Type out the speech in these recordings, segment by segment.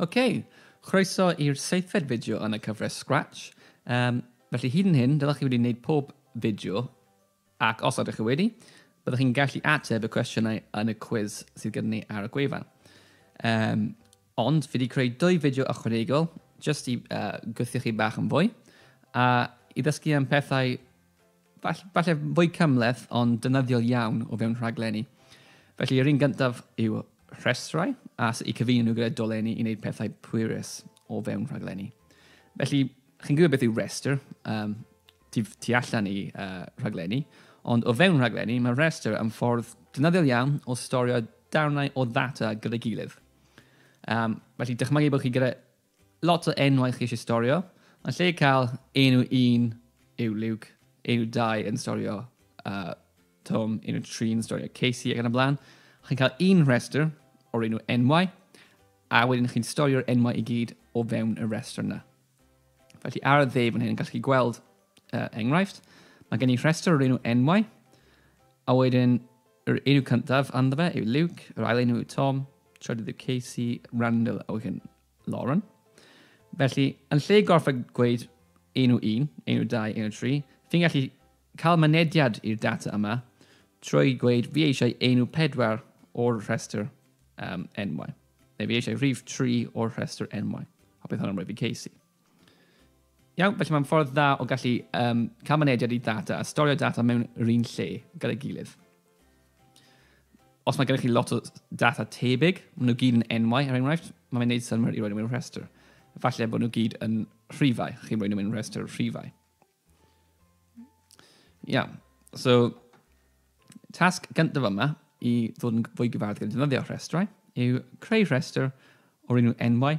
OK, chroeso i'r seithfed fideo yn y cyfres Scratch. Um, felly hyd yn hyn, dylech chi wedi gwneud pob fideo, ac os ydych chi wedi, byddwch chi'n gallu ateb y cwestiynau yn y cwiz sydd gyda ni ar y gwefan. Um, ond fi wedi creu dwy fideo ychwanegol, jyst i uh, gweithio chi bach yn fwy, a i ddysgu am pethau Fall, falle fwy cymleth ond dynyddiol iawn o fewn rhaglenni. Felly yr un gyntaf yw rhestrau a sut i cyfeinu nhw gyda dolenni i wneud pethau pwerus o fewn rhaglenni. Felly chi'n gwybod beth yw restr um, tu, tu allan i uh, rhaglenni, ond o fewn rhaglenni mae restr yn ffordd dynyddiol iawn o storio darnau o ddata gyda'i gilydd. Um, felly dychmygu bod chi gyda Lot o enwau chi eisiau storio. Yn lle cael enw un yw Luke, enw dau yn storio uh, Tom, enw tri yn storio Casey ac yn y blaen. Chi'n cael un rhestr o'r enw enwau, a wedyn chi'n storio'r enwau i gyd o fewn y rhestr yna. Felly ar y dde fan hyn, gallu chi gweld uh, enghraifft, mae gen i rhestr o'r enw enwau, a wedyn Yr enw cyntaf ynddo fe yw Luke, yr ail enw yw Tom, trydydd yw Casey, Randall a wedyn Lauren. Felly, yn lle gorfod gweud enw 1, enw 2, enw 3, fi'n gallu cael mynediad i'r data yma trwy gweud fi eisiau enw 4 o'r rhestr um, enwau, neu fi eisiau rhif 3 o'r rhestr enwau, a bydd hwnna'n rhoi fi Casey. Iawn, felly mae'n ffordd dda o gallu um, cael mynediad i data a storio data mewn yr un lle gyda'i gilydd. Os mae gennych chi lot o data tebyg, maen nhw gyd yn enwau, er enghraifft, mae'n gwneud synwyr i roi nhw mewn rhestr. Falle bod nhw gyd yn rhifau, chi'n rhoi nhw mewn rhestr rhifau. Iawn, so tasg gyntaf yma i ddod yn fwy gyfarwydd gyda defnyddio rhestrau yw creu rhestr o'r enw enwau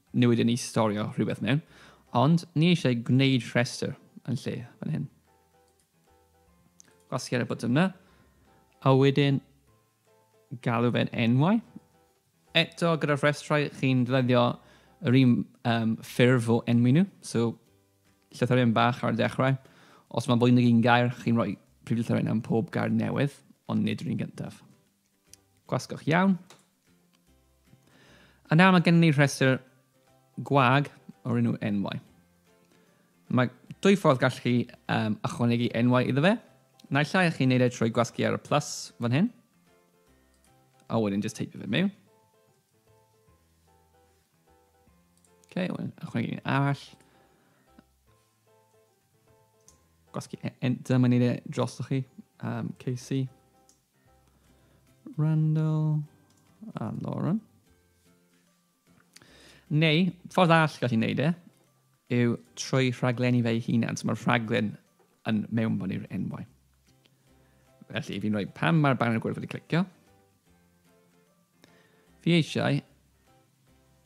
Newid yn ei storio rhywbeth mewn, ond ni eisiau gwneud rhestr yn lle fan hyn. Gwasgu ar y botwm yna, a wedyn galw fe'n enwau. Eto gyda'r rhestrau chi'n ddyddio yr un um, ffurf o enwi nhw, so llythyren bach ar y dechrau. Os mae fwy nag un gair, chi'n rhoi prif llythyren am pob gair newydd, ond nid yr un gyntaf. Gwasgwch iawn. A nawr mae gennym ni rhestr gwag o'r enw enwau. Mae dwy ffordd gallu chi um, ychwanegu enwau iddo fe. Naill ai chi'n neud e trwy gwasgu ar y plus fan hyn. A wedyn just teipio fe mewn. Okay, wedyn ychwanegu un arall. Gwasgu e- enter, mae'n neud e drosoch chi. Um, Casey. Randall a Lauren. Neu, ffordd all gallu wneud e, yw trwy rhaglenni fe'i hunan. So mae'r rhaglen yn mewn bod i'r enwau. Felly, fi'n rhoi pam mae'r banner gwyrdd wedi clicio. Fi eisiau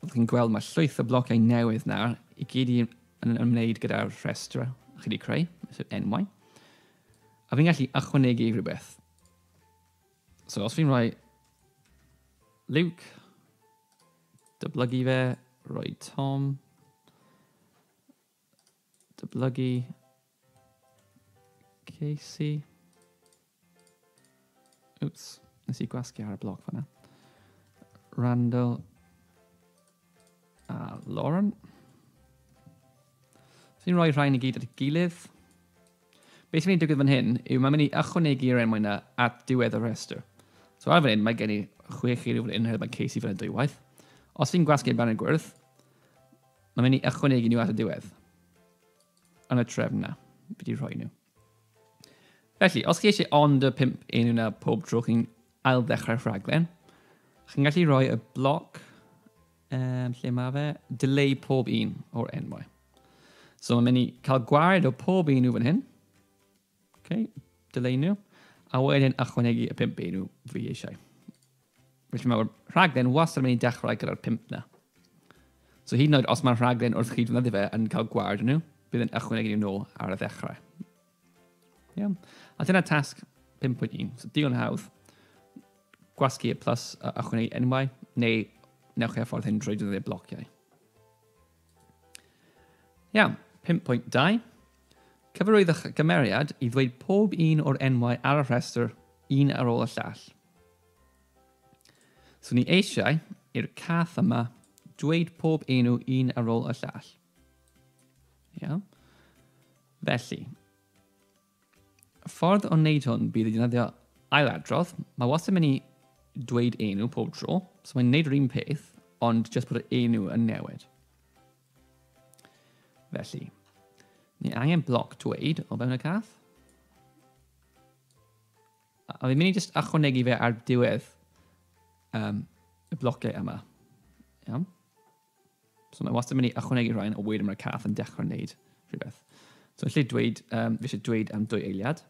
Fel chi'n gweld, mae llwyth o blociau newydd nawr i gyd yn ymwneud gyda'r rhestr chi wedi creu, sef enwau. A fi'n gallu ychwanegu rhywbeth. So os fi'n rhoi Luke, dyblygu fe, rhoi Tom, Dyblygu Casey. Oops, nes i gwasgu ar y bloc fanna. Randall a Lauren. So ni'n rhoi rhain i gyd at y gilydd. Beth sy'n mynd i digwydd fan hyn yw mae'n mynd i ychwanegu yr enwau yna at diwedd y rhestr. So ar fan hyn mae gen i chwech chi rhywun yn hynny mae Casey fan hyn dwywaith. Os fi'n gwasgu amdano'n gwyrdd, Mae'n mynd i ychwanegu nhw at y diwedd. Yn y trefn na, fi wedi rhoi nhw. Felly, os chi eisiau ond y pimp enw na pob tro chi'n ail ddechrau rhaglen, chi'n gallu rhoi y bloc um, lle mae fe, delay pob un o'r enwau. So mae'n mynd i cael gwared o pob un nhw fan hyn, Okay, dylunio. A wedyn ychwanegu y pimp enw fi eisiau. Felly mae'r rhaglen wastad yn mynd i dechrau gyda'r pimp na. So hyd yn oed os mae'r rhaglen wrth chi ddefnyddio fe yn cael gwared nhw, bydd yn ychwanegu nhw nôl ar y ddechrau. Iawn. A dyna tasg 5.1. So digon hawdd. Gwasgu y plus a ychwanegu enwau, neu newch chi a ffordd hyn drwy ddefnyddio blociau. Iawn, 5.2. Cyfarwyddwch y gymeriad i ddweud pob un o'r enwau ar y rhestr, un ar ôl y llall. So ni eisiau i'r cath yma dweud pob enw un ar ôl y llall. Iawn. Felly, Ffordd o wneud hwn bydd i ddefnyddio ailadrodd. Mae wastad yn mynd i dweud enw pob tro, so mae'n gwneud yr un peth, ond jyst bod yr enw yn newid. Felly, ni angen bloc dweud o fewn y cath. A fi'n mynd i jyst achwanegu fe ar diwedd um, y blociau yma. Iawn? So mae wastad yn mynd i ychwanegu rhain o wedyn mae'r cath yn dechrau wneud rhywbeth. So yn lle dweud, um, fi eisiau dweud am dwy eiliad.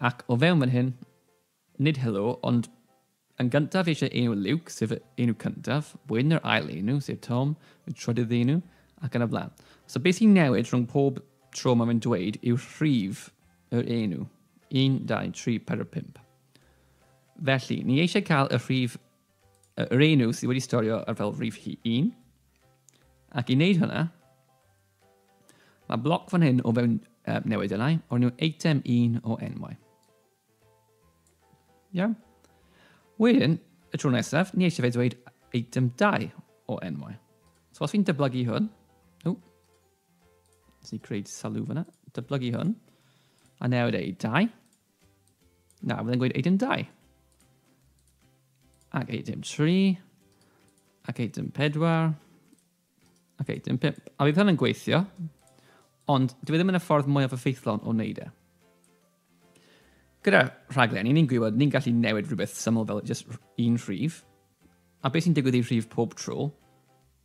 Ac o fewn fan hyn, nid helo, ond yn gyntaf fi eisiau enw Luke, sef enw cyntaf, wedyn yr ail enw, sef Tom, y trydydd enw, ac yn y blaen. So beth sy'n newid rhwng pob tro mae fe'n dweud yw rhif yr enw. 1, 2, 3, 4, 5. Felly, ni eisiau cael y rhif Yr un nhw sydd wedi storio ar fel rhif hi un. Ac i wneud hynna, mae bloc fan hyn o fewn uh, newid yna, o'r nhw eitem un o enwau. Iawn. Wedyn, y tro nesaf, ni eisiau fe dweud eitem 2 o enwau. So os fi'n dyblygu hwn, o, nes i creu salw fyna, dyblygu hwn, a newid ei 2, Na, fydden gweud eitem 2. Ac eitem 3. Ac eitem 4. Ac eitem 5. A bydd hynny'n gweithio, ond dwi e ddim yn y ffordd mwyaf effeithlon o wneud e. Gyda rhaglen, ni'n gwybod, ni'n gallu newid rhywbeth syml fel just un rhif, a beth sy'n digwydd i rhif pob tro,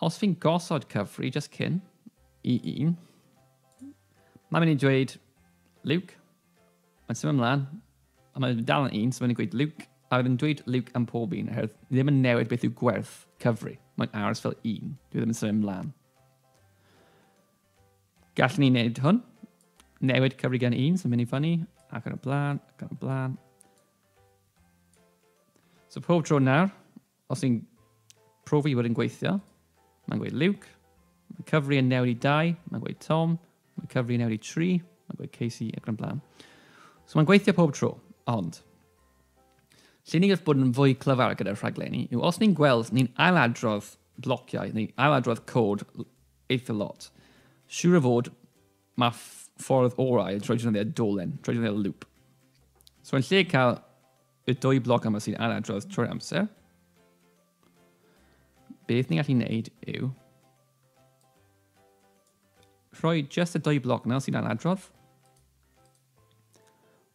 Os fi'n gosod cyfri just cyn i un, mae'n mynd i dweud Luke, mae'n symud ymlaen, a mae'n dal yn un, so mae'n dweud Luke, a mae'n dweud Luke am pob un, oherwydd ni ddim yn newid beth yw gwerth cyfri. Mae'n aros fel un, dwi ddim yn symud ymlaen. Gallwn ni wneud hwn. Newid cyfri gan un sy'n mynd i fyny, ac yn y blaen, ac yn y blaen. So pob tro nawr, os ni'n profi bod yn gweithio, mae'n gweud Luke, mae cyfri yn newid i 2, mae'n gweud Tom, mae cyfri yn newid i 3, mae'n gweud Casey ac yn y blaen. So mae'n gweithio pob tro, ond lle ni'n gallu bod yn fwy clyfar gyda'r rhaglenni yw os ni'n gweld ni'n ailadrodd blociau neu ailadrodd cod Eitha lot. Siwr o fod, mae ffordd orau yn troi defnyddiau dolen, troi defnyddiau lŵp. So yn lle cael y dwy bloc yma sy'n anadrodd trwy'r amser, beth ni'n gallu gwneud yw rhoi just y dwy bloc yna sy'n anadrodd,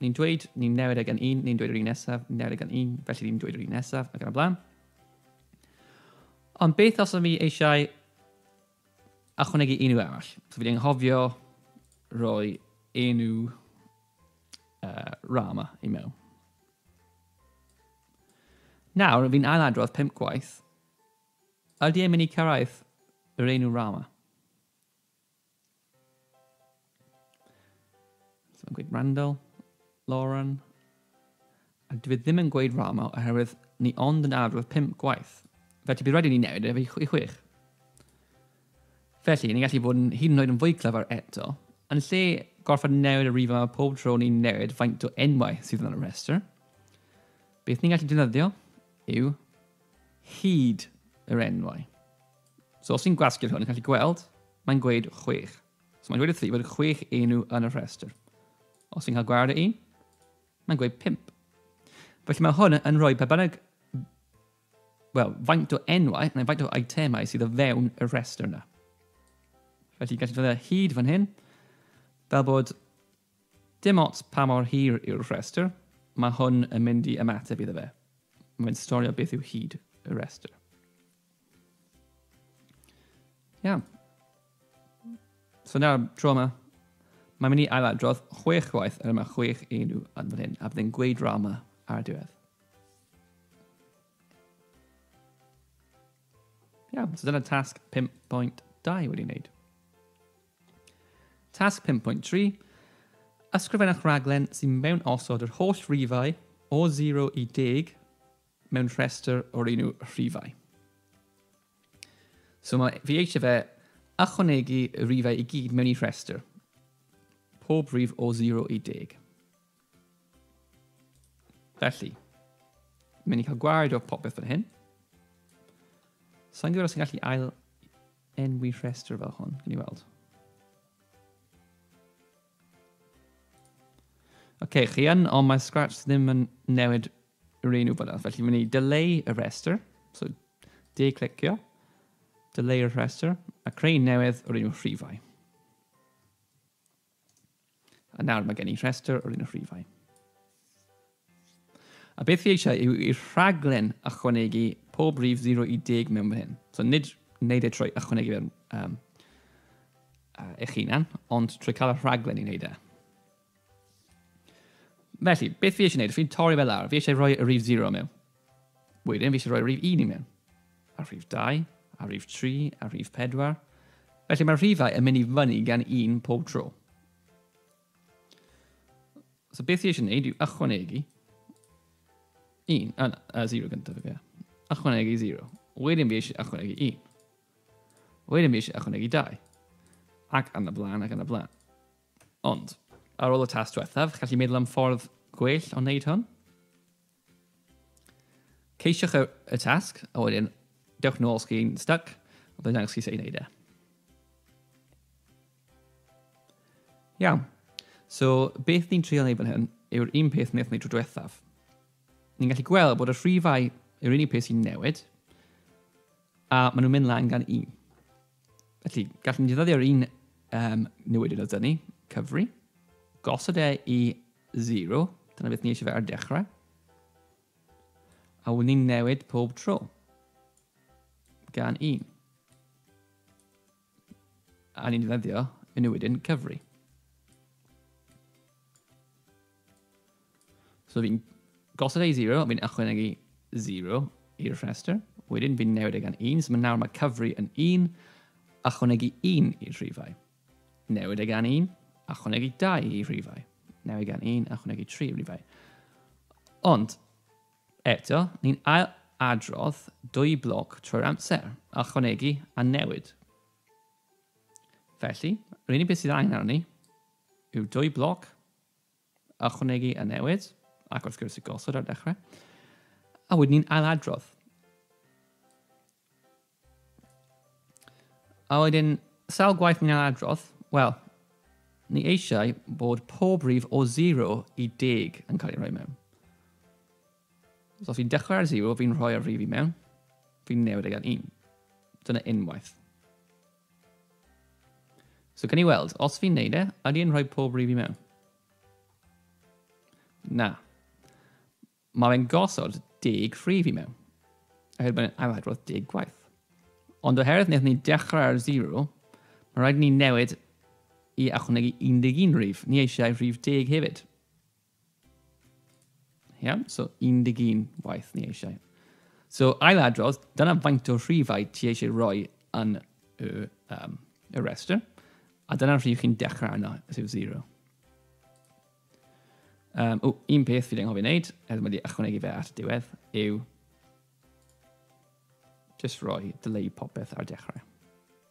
Ni'n dweud, ni'n newid e gan un, ni'n dweud yr un nesaf, ni'n newid e gan un, felly ni'n dweud yr un nesaf, ac yn y blaen. Ond beth os ydw i eisiau ychwanegu enw arall? So fi wedi anghofio roi enw uh, Rama i mewn. Nawr, fi'n ailadrodd pimp gwaith. Ydy e'n mynd i cyrraedd yr enw Rama? So mae'n gweud Randall, Lauren, a dwi e ddim yn gweud Rama oherwydd ni ond yn arwydd pimp gwaith. Fe ti bydd rhaid i ni newid efe i chwech. Felly, ni'n gallu bod yn hyd yn oed yn fwy clyfar eto. Yn lle gorfod newid y rif yma pob tro ni'n newid faint o enwau sydd yn y rhestr, beth ni'n gallu defnyddio yw hyd yr enwau. So os ti'n gwasgu'r hwn, yn gallu gweld, mae'n gweud chwech. So mae'n gweud wrth i fod chwech enw yn y rhestr. Os ti'n cael gwared y un, mae'n gweud pimp. Felly mae hwn yn rhoi pe bynnag wel, faint o enwau neu faint o itemau sydd o fewn y rhestr yna. Felly gallu dod hyd fan hyn, fel bod Dim ots pa mor hir yw'r rhestr, mae hwn yn mynd i ymateb iddo fe. Mae'n storio beth yw hyd y rhestr. Iawn. So nawr, tro yma, mae'n mynd i ailadrodd chwech gwaith yr yma chwech enw yn fan hyn, a byddai'n gweud rama ar y diwedd. Iawn, so dyna tasg 5.2 wedi wneud. Tasg 5.3. Ysgrifennwch raglen sy'n mewn osod yr holl rifau o 0 i 10 mewn rhestr o'r un yw rhifau. So mae fi eisiau fe ychwanegu y rifau i gyd mewn i rhestr. Pob rif o 0 i 10. Felly, mynd i cael gwared o popeth fan hyn. Sa'n gwybod os yn gallu ail Enwi rhestr fel hwn, gen i weld. Oce, okay, chi yn, ond mae Scratch ddim yn newid yr un wybod felly fi'n mynd i delay y rhestr, so de-clicio, delay y rhestr, a creu newydd o'r un rhifau. A nawr mae gen i rhestr o'r un rhifau. A beth fi eisiau yw i'r rhaglen ychwanegu pob rhif 0 i 10 mewn fan hyn. So nid wneud e trwy ychwanegu fe'r um, uh, eich hunan, ond trwy cael y rhaglen i wneud e. Felly, beth fi eisiau gwneud? Fi'n torri fel lawr. Fi eisiau rhoi y rhif 0 mewn. Wedyn fi eisiau rhoi rhif 1 i mewn, a rhif 2, a rhif 3, a rhif 4. Felly mae'r rhifau yn mynd i fyny gan un pob tro. So beth i eisiau gwneud yw ychwanegu 1, a, a 0 gyntaf, ie. Ychwanegu 0. Wedyn fi eisiau ychwanegu 1. Wedyn fi eisiau ychwanegu 2. Ac yn y blaen, ac yn y blaen. Ond, ar ôl y tas diwethaf, gallu meddwl am ffordd gwell o wneud hwn? Ceisiwch y, y tasg, a wedyn dewch nôl os chi'n stuck, a byddai'n dangos chi sut i wneud e. Iawn. So, beth ni'n trio wneud fan hyn yw'r un peth wnaethon ni tro diwethaf. Ni'n gallu gweld bod y rhifau yw'r unig peth sy'n newid, a maen nhw'n mynd lan gan un. Felly, gallwn ni ddyddio'r un um, newidyn o dynnu, cyfri, gosod e i 0, dyna beth ni eisiau fe ar dechrau, a wyn ni'n newid pob tro gan un. A ni'n ddyddio y newidyn cyfri. So fi'n gosod ei 0, fi'n ychwanegu 0 i'r rhestr. Wedyn fi'n newid e gan 1, so mae nawr mae cyfri yn 1, ychwanegu 1 i'r rhifau. Newid e gan 1, ychwanegu 2 i'r rhifau. Newid e gan 1, ychwanegu 3 i'r rhifau. Ond, eto, ni'n ail adrodd dwy bloc trwy'r amser, ychwanegu a newid. Felly, yr unig beth sydd angen arni yw dwy bloc ychwanegu y newid, ac wrth gwrs y gosod ar dechrau, a wedyn ni'n ailadrodd. A wedyn, sawl gwaith ni'n ailadrodd? Wel, ni eisiau bod pob rif o 0 i 10 yn cael ei rhoi mewn. So os fi'n dechrau ar 0, fi'n rhoi'r rif i mewn, fi'n newid e gan 1. Dyna unwaith. So gan i weld, os fi'n neud e, ydy yn rhoi pob rif i mewn? Na. Mae fe'n gosod deg rhif i mewn. Oherwydd mae'n ail adrodd deg gwaith. Ond oherwydd wnaethon ni dechrau ar 0, mae rhaid ni newid i achwnegu 11 rhif. Ni eisiau rhif deg hefyd. Iawn, so 11 waith ni eisiau. So ail adrodd, dyna faint o rhifau ti eisiau rhoi yn y, um, y restr, a dyna rhif chi'n dechrau yna, sef 0. Um, o, un peth fi anghofio wneud, er wedi ychwanegu fe at y diwedd, yw just rhoi delay popeth ar dechrau.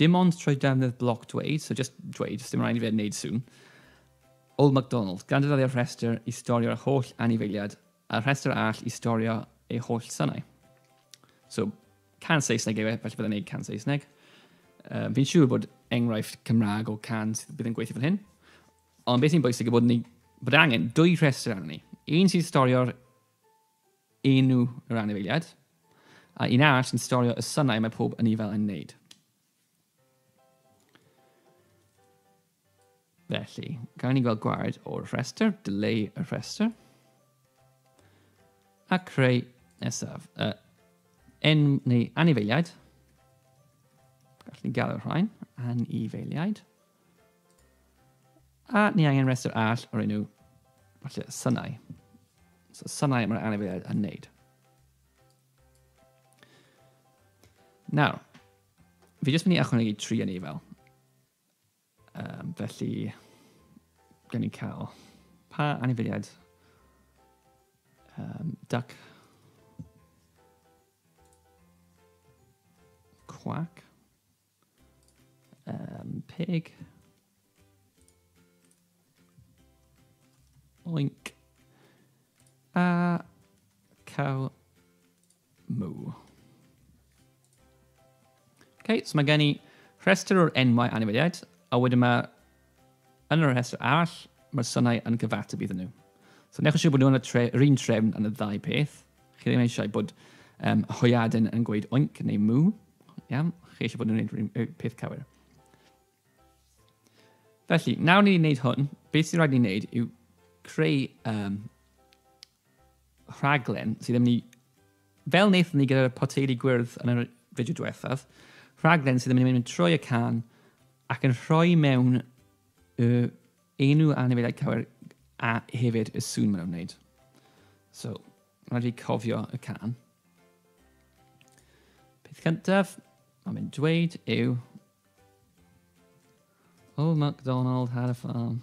Dim ond trwy ddefnydd bloc dweud, so just dweud, dim rhaid i fe wneud sŵn. Old MacDonald, gan ddefnyddio'r rhestr i storio'r holl anifeiliad a'r rhestr arall i storio ei holl synau. So, can Saesneg yw e, felly byddai'n gwneud can Saesneg. Uh, fi'n siŵr bod enghraifft Cymraeg o can sydd bydd yn gweithio fan hyn. Ond beth sy'n bwysig yw bod, ni, bod angen dwy rhestr arno ni. Un sy'n storio'r Un yw yr anifeiliaid, a un arall sy'n storio y synau mae pob anifail yn wneud. Felly, gael ni gweld gwared o'r rhestr, dileu y rhestr, a creu nesaf. Uh, en, neu anifeiliaid, gallwn ni gael y rhain, anifeiliaid. A ni angen rhestr all o'r enw, falle, synau. So synau mae'r anifeiliaid yn wneud. Nawr, fi jyst mynd i ychwanegu tri yn ei fel. Um, felly, gen i cael pa anifeiliaid um, duck quack Um, pig. Oink. A cow moo. Okay, so mae gen i rhestr o'r enwau anifeiliaid, a wedyn mae Yn yr rhestr arall, mae'r synau yn cyfateb iddyn nhw. So newch yn siŵr bod nhw'n yr un trefn yn y ddau peth. Chi ddim eisiau bod um, hoiadyn yn gweud oinc neu mw. Iawn, chi eisiau bod nhw'n gwneud y peth cywir. Felly, nawr ni'n gwneud hwn, beth sy'n rhaid ni'n gwneud yw creu um, rhaglen sydd yn mynd i, fel wnaethon ni gyda'r poteli gwyrdd yn yr fideo diwethaf, rhaglen sydd yn mynd i mynd trwy y can ac yn rhoi mewn y enw anifeiliaid cywir a hefyd y sŵn maen nhw'n wneud. So, rhaid fi cofio y can. Peth cyntaf, mae'n mynd dweud yw Old MacDonald had a farm.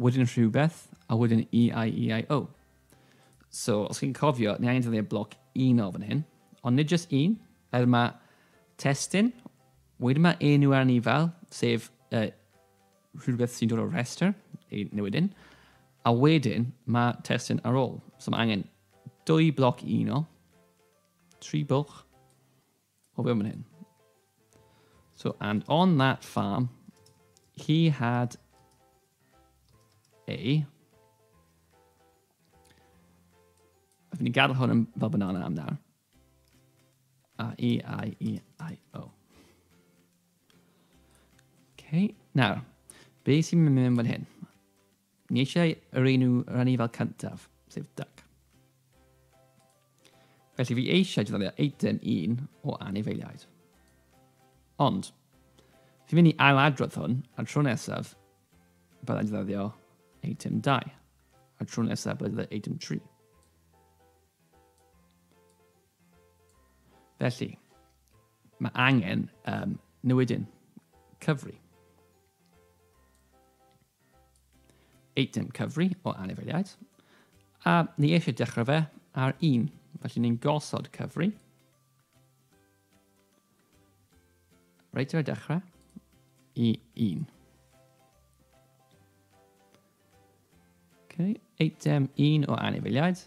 Wedyn rhywbeth, a wedyn E-I-E-I-O. So, os chi'n cofio, ni angen defnyddio bloc un o fan hyn, ond nid jyst un, er mae testyn, wedyn mae enw ar ni fel, sef uh, rhywbeth sy'n dod o'r rhestr, ei newid un, a wedyn mae testyn ar ôl. So mae angen dwy bloc un o, tri bwlch, O, be mae'n hyn? So, and on that farm, he had a... I've been gathered on him fel banana am nawr. A, E, I, E, I, O. Okay, nawr, be sy'n mynd fan hyn? Ni eisiau yr un i'w rannu fel cyntaf, sef duck. Felly fi eisiau defnyddio eitem 1 o anifeiliaid. Ond, fi'n mynd i ailadrodd hwn, a'r tro nesaf byddai'n defnyddio eitem 2, a'r tro nesaf byddai'n defnyddio eitem 3. Felly, mae angen um, newidyn cyfri. eitem cyfri o anifeiliaid, a ni eisiau dechrau fe ar un. Felly ni'n gosod cyfri. Reit ar y dechrau i un. Okay. Eitem un o anifeiliaid.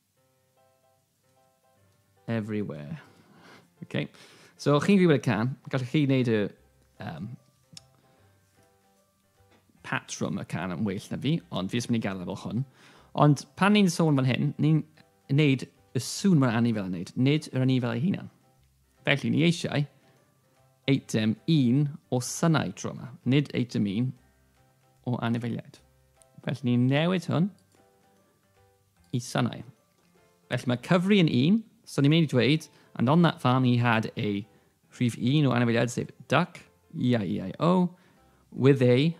Everywhere. Okay. So, chi'n gwybod y can, gallwch chi wneud y um, patrwm y can yn well na fi, ond fi ysmyn i'n gadael fel hwn. Ond pan ni'n sôn fan hyn, ni'n wneud y sŵn mae'n anifail yn wneud, nid yr anifail ei hunan. Felly, ni eisiau eitem un o synau tro yma, nid eitem un o anifeiliaid. Felly, ni'n newid hwn Y sanau. Felly mae cyfri yn un, so ni'n mynd i dweud, and on that farm he had a rhif un o anifeiliaid sef duck, E-I-E-I-O, with a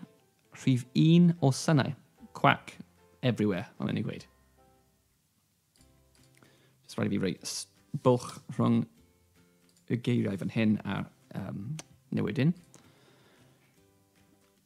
rhif un o sanau, quack, everywhere, fel ni'n ei gweud. Just rhaid i fi roi bwlch rhwng y geiriau fan hyn a'r um, newidyn.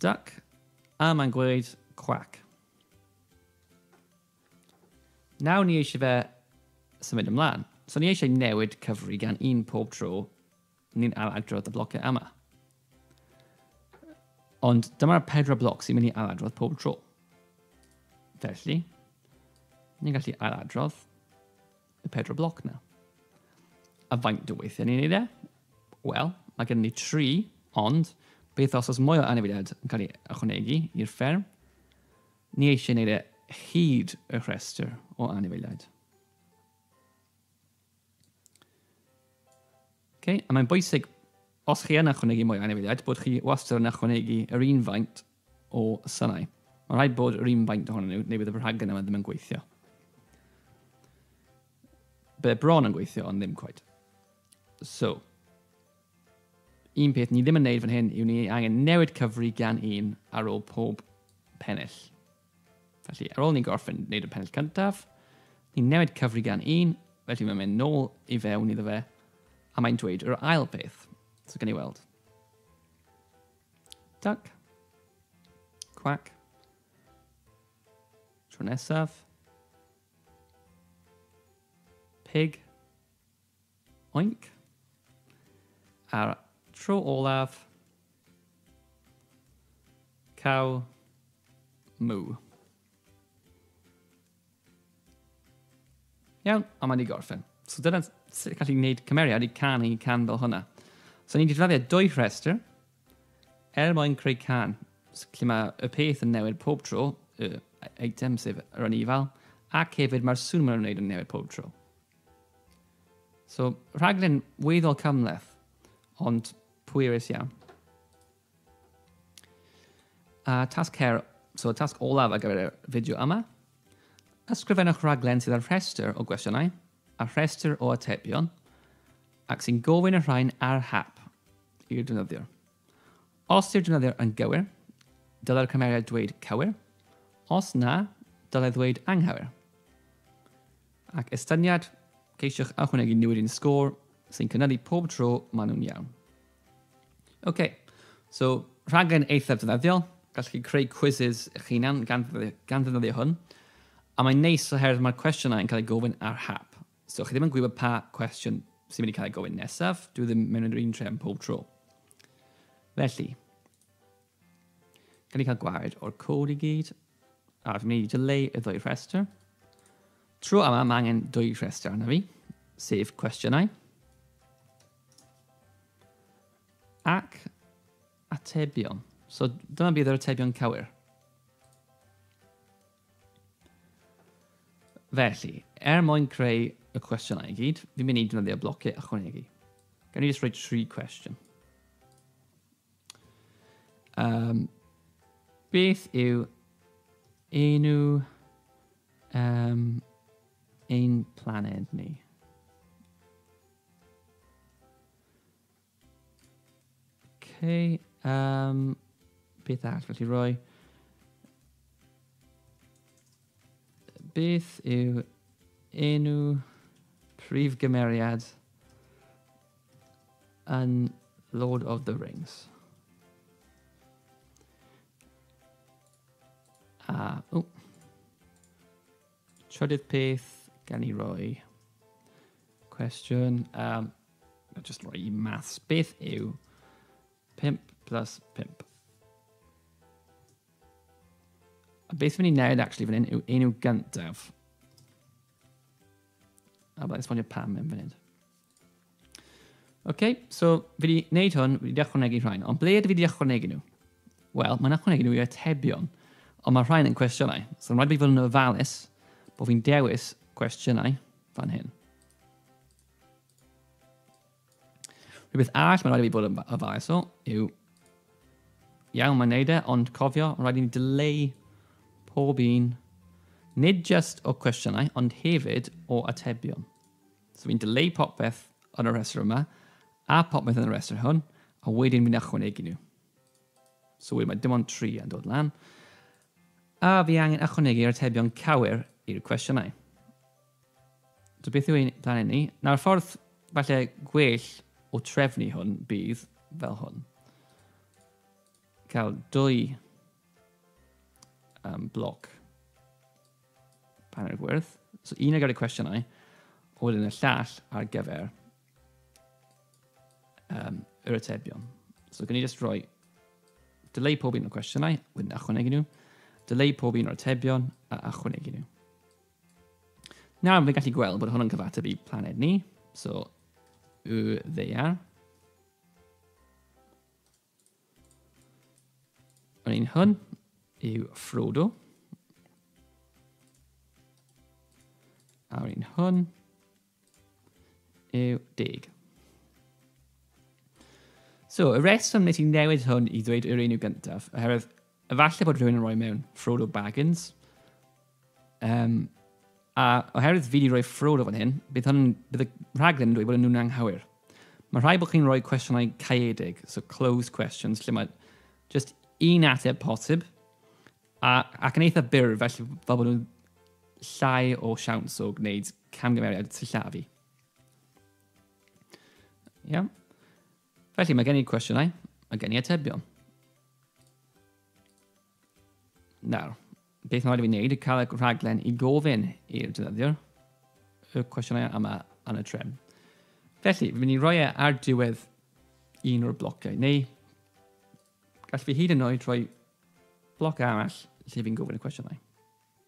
Duck, a mae'n gweud quack. Nawr ni eisiau fe symud ymlaen. So ni eisiau newid cyfri gan un pob tro ni'n aladrodd y blociau yma. Ond dyma'r pedwar bloc sy'n mynd i aladrodd pob tro. Felly, ni'n gallu ailadrodd y pedwar bloc na. A faint o weithiau ni'n neud e? Wel, mae gen ni tri, ond beth os oes mwy o anifeiliaid yn cael ei ychwanegu i'r fferm? Ni eisiau neud e hyd y rhestr o anifeiliaid. Okay? A mae'n bwysig, os chi yn ychwanegu mwy o anifeiliaid, bod chi wastad yn ychwanegu yr un faint o synau. Mae'n rhaid bod yr un faint ohonyn nhw, neu bydd y rhaglen yma ddim yn gweithio. Bydd e bron yn gweithio, ond ddim cwaid. So, un peth ni ddim yn neud fan hyn yw ni angen newid cyfri gan un ar ôl pob pennill. Felly, ar ôl ni'n gorffen wneud y pennill cyntaf, ni'n newid cyfri gan un, felly mae'n mynd nôl i fewn iddo fe, a mae'n dweud yr ail peth. So, gen i weld. Duck. Quack. Tro nesaf. Pig. Oink. A'r tro olaf. Cow. Moo. Iawn, a mae wedi gorffen. So dyna sut gallu gwneud cymeriad i can i can fel hwnna. So ni'n defnyddio dwy rhestr er mwyn creu can. So, lle mae y peth yn newid pob tro, y item sef yr anifal, ac hefyd mae'r sŵn mae'n wneud yn newid pob tro. So rhaglen weddol cymleth, ond pwerus iawn. A tasg her, so y tasg olaf ar gyfer y fideo yma, ysgrifennwch rhaglen sydd â'r rhestr o gwestiynau a rhestr o atebion ac sy'n gofyn y rhain ar hap i'r defnyddiwr. Os yw'r defnyddiwr yn gywir, dylai'r cymeriad dweud cywir, os na, dylai ddweud anghywir. Ac estyniad, ceisiwch ychwanegu newid i'n sgôr sy'n cynyddu pob tro maen nhw'n iawn. OK, so rhaglen eithaf defnyddiol, gallwch chi creu quizzes eich hunan gan, gan ddefnyddio hwn, a mae'n neis oherwydd mae'r cwestiynau yn cael ei gofyn ar hap. So chi ddim yn gwybod pa cwestiwn sy'n mynd i cael ei gofyn nesaf, dwi ddim mewn yr un tre yn pob tro. Felly, Gan ni cael gwared o'r cod i gyd, a fi'n mynd i dileu y ddwy rhestr. Tro yma, mae angen dwy rhestr arno fi, sef cwestiynau ac atebion. So dyma bydd yr atebion cywir. Felly, er mwyn creu y cwestiynau i gyd, fi'n mynd i defnyddio blociau ychwanegu. Gan i jyst rhoi tri cwestiwn. Um, beth yw enw um, ein planed ni? Okay, um, beth arall felly roi? Beth yw enw prif gymeriad yn Lord of the Rings. A, o. Trydydd peth, gan i roi cwestiwn. Um, just roi i maths. Beth yw 5 plus 5? A beth fi'n ei wneud actually fan hyn yw enw gyntaf. A byddai'n esbonio pam yn fan hyn. OK, so fi wedi wneud hwn, fi wedi ychwanegu rhain, ond ble ydw i wedi ychwanegu nhw? Wel, mae'n ychwanegu nhw i atebion, ond mae rhain yn cwestiynau. So, rhaid fi fod yn ofalus bod fi'n dewis cwestiynau fan hyn. Rhywbeth arall mae'n rhaid i fi bod yn ofalus o yw, iawn mae'n neud e, ond cofio, mae'n rhaid i ni dyleu pob un, nid just o cwestiynau, ond hefyd o atebion. So fi'n dileu popeth yn y rhestr yma, a popeth yn y rhestr hwn, a wedyn fi'n ychwanegu nhw. So wedyn mae dim ond tri yn dod lan. A fi angen ychwanegu'r atebion cywir i'r cwestiynau. So beth yw ein planed ni? Nawr ffordd falle gwell o trefnu hwn bydd fel hwn. cael dwy um, bloc panel gwyrdd. So un ar gyfer y cwestiynau, a wedyn y llall ar gyfer um, yr atebion. So gan i just rhoi delay pob un o'r cwestiynau, wedyn achwanegu nhw, delay pob un o'r atebion a achwanegu nhw. Nawr, fi'n gallu gweld bod hwn yn cyfateb i planed ni, so y ddeiar. Yr un hwn yw Frodo. A'r un hwn yw deg. So, y reswm nes i newid hwn i ddweud yr enw gyntaf, oherwydd efallai bod rhywun yn rhoi mewn Frodo Baggins, Um, a oherwydd fi wedi rhoi ffrod o fan hyn, bydd, hwn, bydd y rhaglen yn dweud bod nhw'n anghywir. Mae rhai bod chi'n rhoi cwestiynau caeedig, so closed questions, lle mae just un ateb posib, a, ac yn eitha byr, felly fel bod nhw'n llai o siawns o gwneud camgymeriad sillafu. Iawn. Yeah. Felly mae gen i cwestiynau, mae gen i atebion. Nawr, beth mae'n rhaid i fi wneud yw cael y rhaglen i gofyn i'r defnyddiwr y cwestiynau yma yn y trefn. Felly, fi'n mynd i roi e ar diwedd un o'r blociau, neu gall fi hyd yn oed rhoi bloc arall lle fi'n gofyn y cwestiynau.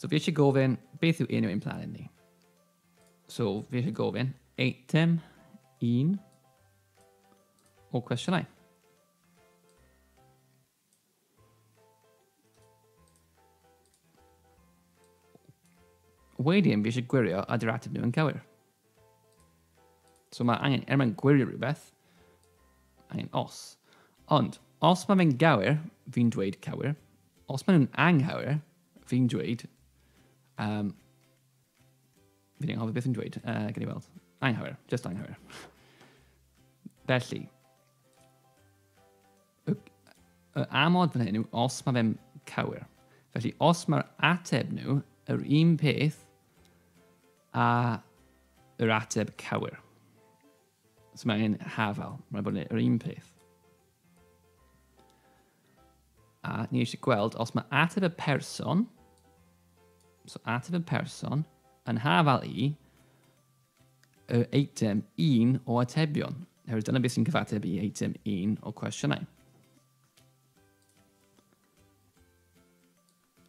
So fi eisiau gofyn, beth yw enw ein planet ni? So fi eisiau gofyn, eitem un o cwestiynau. Wedyn fi eisiau gwirio a dy'r ateb nhw yn cywir. So mae angen, er mae'n gwirio rhywbeth, angen os. Ond, os mae fe'n gywir, fi'n dweud cywir. Os mae nhw'n anghywir, fi'n dweud... Um, fi'n anghofio beth yn dweud, uh, gen i weld. Anghywir, just anghywir. Felly, Y, y amod fan hyn yw os mae fe'n cywir. Felly os mae'r ateb nhw yr un peth a yr ateb cywir. So mae angen hafel, mae'n bod yn yr un peth. A ni eisiau gweld os mae ateb y person, so ateb y person, yn hafel i, y eitem 1 o atebion, oherwydd dyna beth sy'n cyfateb i eitem 1 o cwestiynau.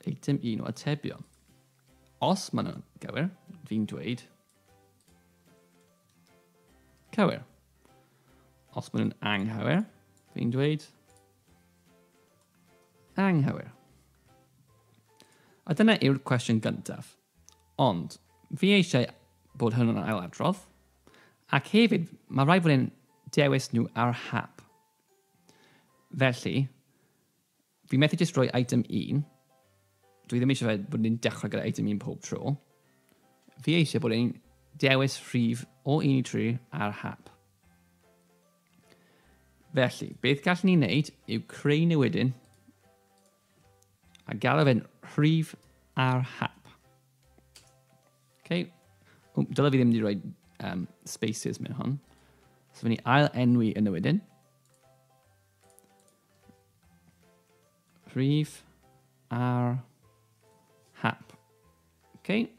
Eitem 1 o atebion. Os maen nhw'n gywir, fi'n dweud cywir. Os maen nhw'n anghywir, fi'n dweud anghywir. A dyna yw'r cwestiwn gyntaf. Ond, fi eisiau bod hwn yn ailadrodd, ac hefyd, mae rhaid fod e'n dewis nhw ar hap. Felly, fi methu jyst rhoi item 1. Dwi ddim eisiau bod ni'n dechrau gyda item 1 pob tro. Fi eisiau bod e'n dewis rhif o 1 i 3 ar hap. Felly, beth gallwn ni wneud yw creu newidyn A galw fe'n rhif ar hap. Okay. O, dyla fi ddim wedi rhoi um, spaces mewn hon. So fi'n ni ail enwi yn y wedyn. Rhif ar hap. Okay.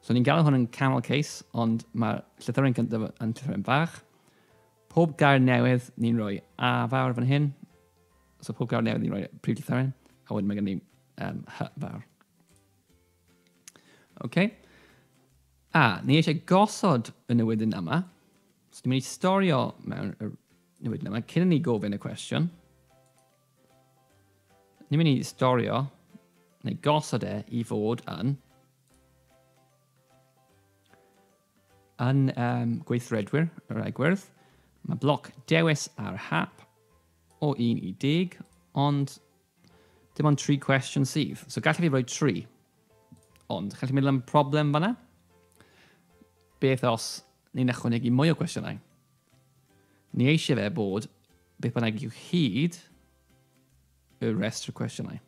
So ni'n galw hwn yn camel case, ond mae'r llythyren gyntaf yn llythyren fach. Pob gair newydd ni'n rhoi A fawr fan hyn. So pob gair newydd ni'n rhoi prif llythyren. A wedyn mae gen i um, H fawr. OK. A, ni eisiau gosod y newydyn yma. So ni'n mynd i storio mewn y newydyn yma cyn ni gofyn y cwestiwn. Ni'n mynd i storio neu gosod e i fod yn Yn um, gweithredwyr yr egwyrdd, mae bloc dewis ar hap o 1 i 10, ond dim ond tri cwestiwn sydd. So gallai fi roi tri. Ond, chi'n meddwl am problem fanna? Beth os ni'n ychwanegu mwy o cwestiynau? Ni eisiau fe bod beth bynnag yw hyd y restr cwestiynau.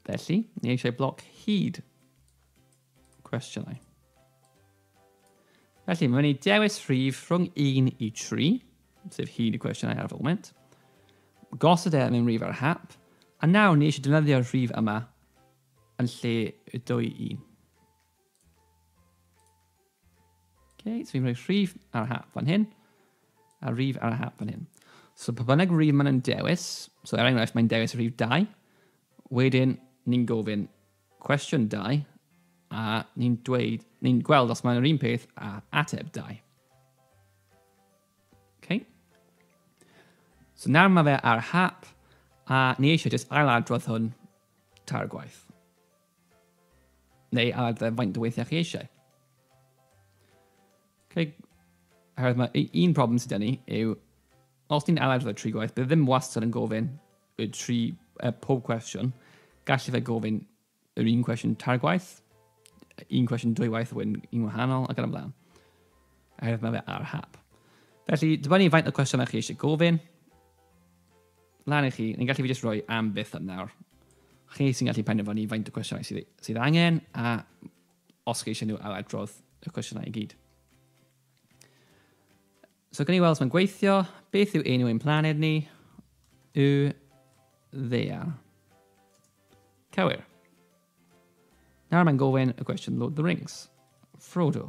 Felly, ni eisiau bloc hyd cwestiynau. Felly, mae'n ei dewis rhif rhwng 1 i 3, sef hyd y cwestiynau ar y foment. Gosod e mewn rhif ar y hap, a nawr ni eisiau defnyddio'r rhif yma yn lle y dwy un. Okay, so fi'n rhoi rhif ar y hap fan hyn, a rhif ar y hap fan hyn. So pa bynnag rhif maen nhw'n dewis, so er enghraifft mae'n dewis rhif 2, wedyn ni'n gofyn cwestiwn 2, a ni'n dweud, ni'n gweld os mae'n yr un peth a ateb 2. Okay. So nawr mae fe ar hap, a ni eisiau jyst ail adrodd hwn tair gwaith. Neu ar dde faint o weithiau chi eisiau. Okay. Herwydd mae un problem sydd gen ni yw, os ni'n aled y tri gwaith, bydd ddim wastad yn gofyn y tri, uh, pob cwestiwn. Gallu fe gofyn yr un cwestiwn tair gwaith, un cwestiwn dwy waith wedyn un wahanol ac yn ymlaen. Herwydd mae fe ar hap. Felly, dibynnu faint o cwestiynau chi eisiau gofyn, Lan i chi, ni'n gallu fi jyst rhoi am byth am nawr. Chi sy'n gallu penderfynu faint o cwestiynau sydd, sydd angen a os chi eisiau nhw ar adrodd y cwestiynau i gyd. So gan i weld mae'n gweithio, beth yw enw ein planed ni? Yw ddea. Cywir. Nawr mae'n gofyn y gwestiwn Lord of the Rings. Frodo.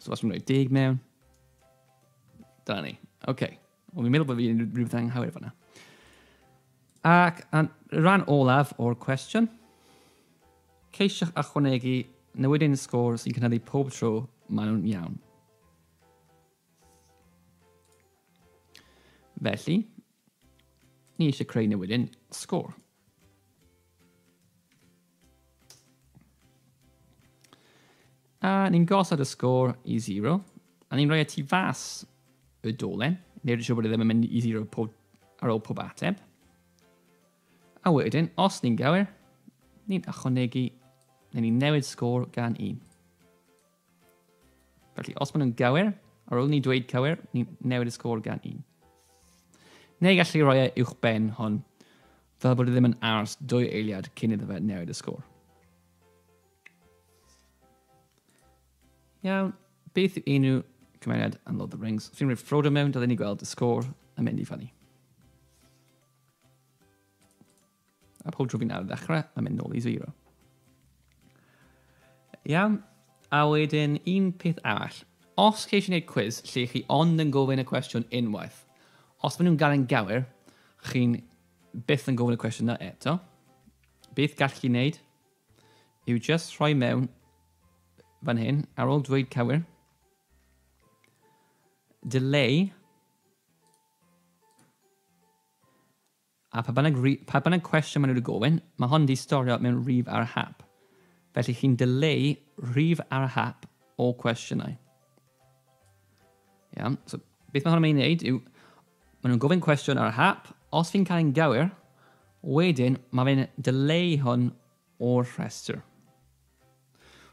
So os dwi'n rhoi deg mewn, da ni. Oce. Okay. Ond fi'n meddwl bod fi'n rhywbeth anghywir fanna. Ac yn rhan olaf o'r cwestiwn, ceisiwch ychwanegu newydyn sgôr sy'n cynyddu pob tro maen nhw'n iawn. Felly, ni eisiau creu newydyn sgôr. A ni'n gosod y sgôr i 0. A ni'n rhoi y tu fas y dolen. Neu'r siw bod e ddim yn mynd i 0 pob, ar ôl pob ateb. A wedyn, os ni'n gywir, ni'n ychwanegu, neu ni'n newid sgôr gan 1. Felly, os maen nhw'n gywir, ar ôl ni dweud cywir, ni newid y sgôr gan un. Neu gallu rhoi e uwch ben hon, fel bod e ddim yn ars dwy eiliad cyn iddo fe newid y sgôr. Iawn, beth yw enw cymeriad yn Lord of the Rings? Os ni'n rhoi Frodo mewn, dylai ni gweld y sgôr yn mynd i fyny. A pob tro fi'n ar y dechrau, mae'n mynd nôl i zero. Iawn, a wedyn un peth arall. Os chi eisiau gwneud cwiz lle chi ond yn gofyn y cwestiwn unwaith, os maen nhw'n gael yn gywir, chi'n byth yn gofyn y cwestiwn yna eto. Beth gall chi wneud yw just rhoi mewn fan hyn, ar ôl dweud cywir, delay A pa bynnag ri- pa bynnag cwestiwn maen nhw wedi gofyn, mae hon wedi storio mewn rif ar y hap. Felly chi'n dileu rhif ar y hap o cwestiynau. Iawn, so beth mae hwn yn mynd i wneud yw, maen nhw'n gofyn cwestiwn ar y hap, os fi'n cael ein gywir, wedyn mae fe'n dileu hwn o'r rhestr.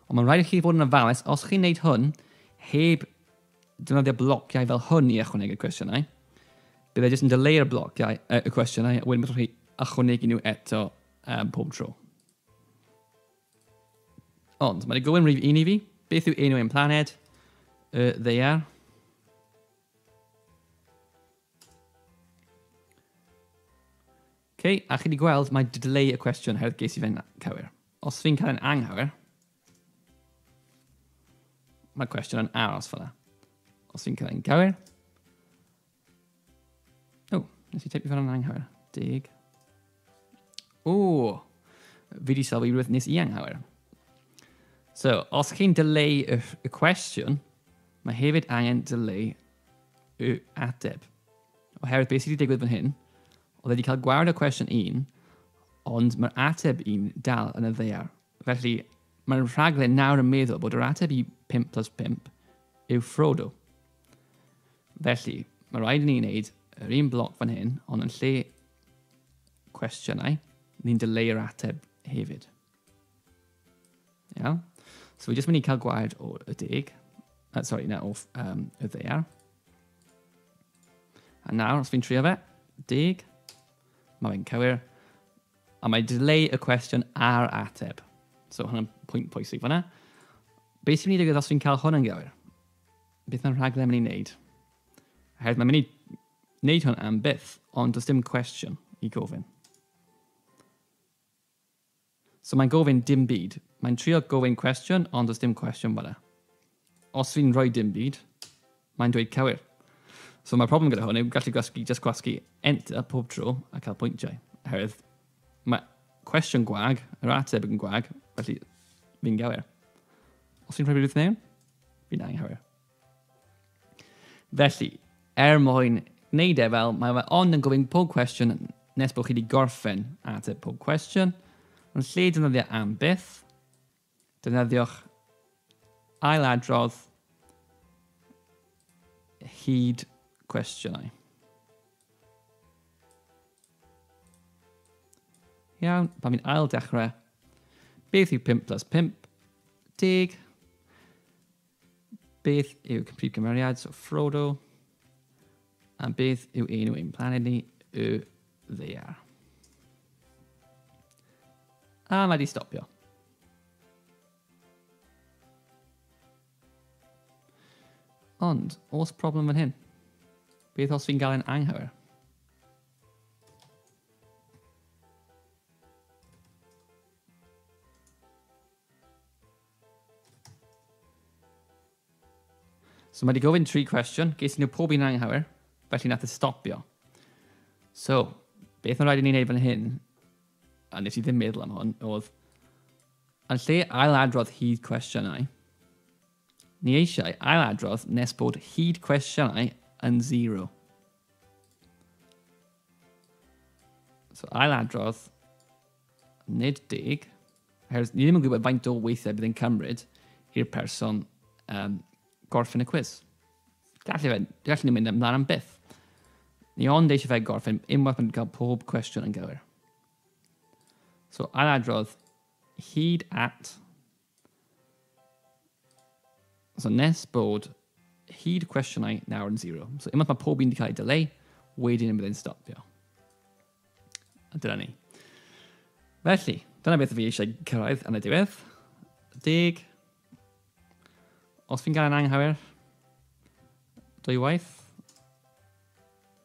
Ond mae'n rhaid i chi fod yn ofalus os chi'n neud hwn heb defnyddio blociau fel hwn i ychwanegu cwestiynau. Bydd e jyst yn dyleu'r blociau, uh, y cwestiynau, a wedyn byddwch chi ychwanegu nhw eto um, pob tro. Ond, mae'n gofyn rhif un i fi. Beth yw enw ein planed? Y ddeiar. Ok, a chi di gweld, mae delay y cwestiwn oherwydd ges i fe'n cywir. Os fi'n cael e'n anghywir, mae cwestiwn yn aros fel yna. Os fi'n cael e'n gywir, o, nes i teipio fel yna'n anghywir, deg. O, fi di sylwi rhywbeth nes i anghywir. So, os chi'n delay y, y cwestiwn, mae hefyd angen delay y ateb. Oherwydd beth sydd wedi digwydd fan hyn, Oedd wedi cael gwared o cwestiwn un, ond mae'r ateb un dal yn y ddear. Felly, mae'r rhaglen nawr yn meddwl bod yr ateb i 5 plus 5 yw Frodo. Felly, mae rhaid i ni wneud yr un bloc fan hyn, ond yn lle cwestiynau, ni'n dyleu'r ateb hefyd. Ia. So fi jyst mynd i cael gwaed o y deg. Uh, sorry, na, o um, y ddeiar. A nawr, os fi'n trio fe, deg, mae fe'n cywir. A mae delay y cwestiwn ar ateb. So hwnna'n pwynt pwysig fanna. Beth sy'n mynd i ddigwydd os fi'n cael hwn yn gywir? Beth mae'n rhaglen mynd i wneud? Oherwydd mae'n mynd i wneud hwn am byth, ond does dim cwestiwn i gofyn. So mae'n gofyn dim byd. Mae'n trio gofyn cwestiwn ond does dim cwestiwn fanna. Os fi'n rhoi dim byd, mae'n dweud cywir. So mae'r problem gyda hwn yw gallu gwasgu, just gwasgu enter pob tro a cael pwyntiau. Oherwydd mae cwestiwn gwag, yr ateb yn gwag, felly fi'n gywir. Os fi'n rhoi rhywbeth mewn, fi'n anghywir. Felly, er mwyn gwneud e fel mae fe ond yn gofyn pob cwestiwn nes bod chi wedi gorffen ateb pob cwestiwn, yn lle defnyddio am byth, defnyddiwch ailadrodd hyd cwestiynau. Iawn, pan fi'n ail dechrau, beth yw 5 plus 5? Deg. Beth yw prif gymeriad? So Frodo. A beth yw enw ein planed ni? Y ddear. A mae di stopio. Ond, os problem fan hyn? Beth os fi'n gael e'n anghywir? So mae wedi gofyn tri cwestiwn, ges nhw pob un anghywir, felly nath e stopio. So, beth mae'n rhaid i ni'n neud fan hyn, a nes i ddim meddwl am hwn, oedd, yn lle ail adrodd hyd cwestiynau, ni eisiau ail adrodd nes bod hyd cwestiynau yn zero. So ail adrodd Nid deg, oherwydd ni ddim yn gwybod faint o weithiau bydd yn cymryd i'r person um, gorffen y cwis. Gallu fe, gallu ni mynd ymlaen am byth. Ni ond eisiau fe gorffen unwaith mae'n cael pob cwestiwn yn gywir. So, ail adrodd, hyd at So nes bod hyd cwestiynau nawr yn zero. So unwaith mae pob un wedi cael ei dyleu, wedyn yn bydd e'n stopio. A dyna ni. Felly, dyna beth fi eisiau cyrraedd yn y diwedd. Deg. Os fi'n gael yn anghywir, dwy waith.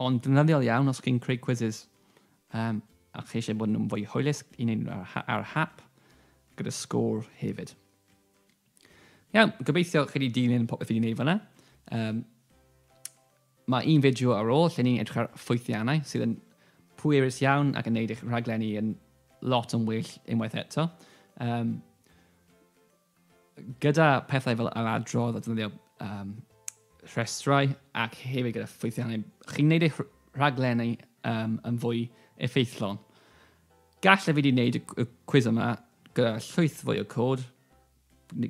Ond ddefnyddiol iawn os chi'n creu quizzes um, a chi eisiau bod nhw'n fwy hwylus i wneud nhw ar, ar hap gyda sgôr hefyd. Iawn, gobeithio chi wedi dilyn popeth fi wedi gwneud fyna. Um, mae un fideo ar ôl lle ni'n edrych ar ffwythiannau sydd yn pwerus iawn ac yn gwneud eich rhaglenni yn lot yn well unwaith eto. Um, Gyda pethau fel yr adrodd a defnyddio um, rhestrau ac hefyd gyda ffwythiannau, chi'n gwneud eich rhaglenni um, yn fwy effeithlon. Gallai fi wedi gwneud y cwiz yma gyda llwyth fwy o cod,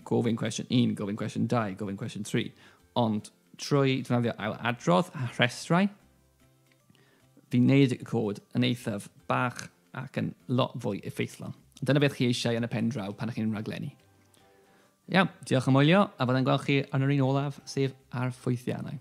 gofyn cwestiwn 1, gofyn cwestiwn 2, gofyn cwestiwn 3, ond trwy defnyddio ail adrodd a rhestrau, fi'n gwneud y cod yn eithaf bach Ac yn lot fwy effeithlon. Dyna beth chi eisiau yn y pen draw pan ych chi'n rhaglenni. Iawn, diolch am wylio, a fyddai'n gweld chi yn yr un olaf, sef ar ffwythiannau.